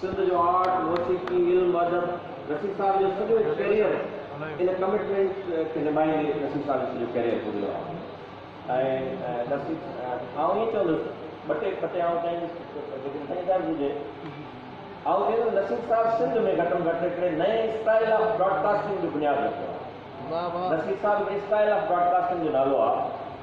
سنڌ جو آرٽ، موسيقي، علم و ادب نصير صاحب جو سڄو ڪيريئر ان ڪمٽمينٽ کي نڀائيندي نصير صاحب جو سڄو ڪيريئر گذريو آهي ۽ نصير آئون ائين چوندس ٻه ٽي ٻه ٽي آئون چائيندس جيڪڏهن سائين اجازت هجي آئون چوندس نصير صاحب سنڌ ۾ گهٽ ۾ گهٽ هڪڙي نئين اسٽائيل آف براڊڪاسٽنگ جو بنياد رکيو آهي نصير صاحب هڪڙي اسٽائيل آف براڊڪاسٽنگ جو نالو آهي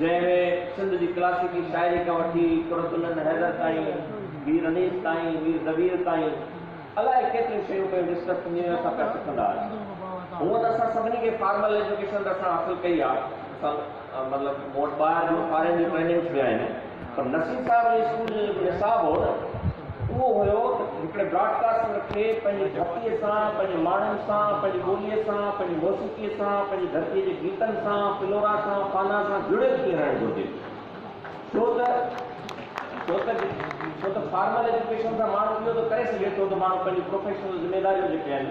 جنهن ۾ سنڌ جي ڪلاسيڪي شاعري کان وٺي قرة العين حيدر تائين، مير انيس تائين، مير دبير تائين الائي ڪيتريون شيون پيون ڊسڪس ٿينديون ۽ اسان پيا سکندا آهيون. هونئن ته اسان سڀني کي فارمل ايجوڪيشن ته اسان حاصل ڪئي آهي. اسان مطلب مون وٽ ٻاهر جو فارين جون ٽريننگس به آهن. پر نصير صاحب جي اسڪول جو جيڪو نصاب هو نه اهو هيو ته هڪڙي براڊ ڪاسٽر کي پنهنجي ڌرتي سان، پنهنجي ماڻهن سان، پنهنجي ٻولي سان، پنهنجي موسيقي سان، پنهنجي ڌرتي جي گيتن سان، فلورا سان، فانا سان جڙيل ٿي رهڻ گهرجي. ڇو ته ڇو ته ڇو ته فارمل ايجوڪيشن سان ماڻهو اهو ته ڪري سگهي ٿو ته ماڻهو پنهنجي پروفيشنل ذميداريون جيڪي آهن.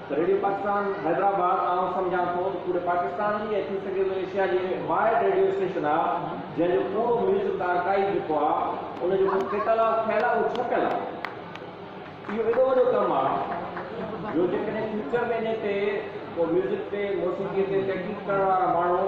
ريڊيو پاڪستان حيدرآباد آئون سمجهان ٿو ته پوري پاڪستان جي ۽ ٿي سگهي ٿو ايشيا جي ۾ واحد ريڊيو اسٽيشن آ جنهن جو پورو ميوزڪ آرڪائيو جيڪو آ ان جو ڪو ڪيٽالاگ ٺهيل آ اهو ڇپيل آ اهو ايڏو وڏو ڪم آ جو جيڪڏهن فيوچر ۾ انهي تي ڪو ميوزڪ تي موسيقي تي تحقيق ڪرڻ وارا ماڻهو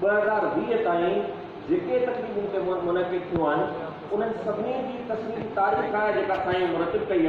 ٻه هزار ويهه تائين جيڪي تقريبون هتي منعقد ٿيون آهن، انهن سڀني جي تصويري تاريخ آهي جيڪا سائين مرتب ڪئي آهي.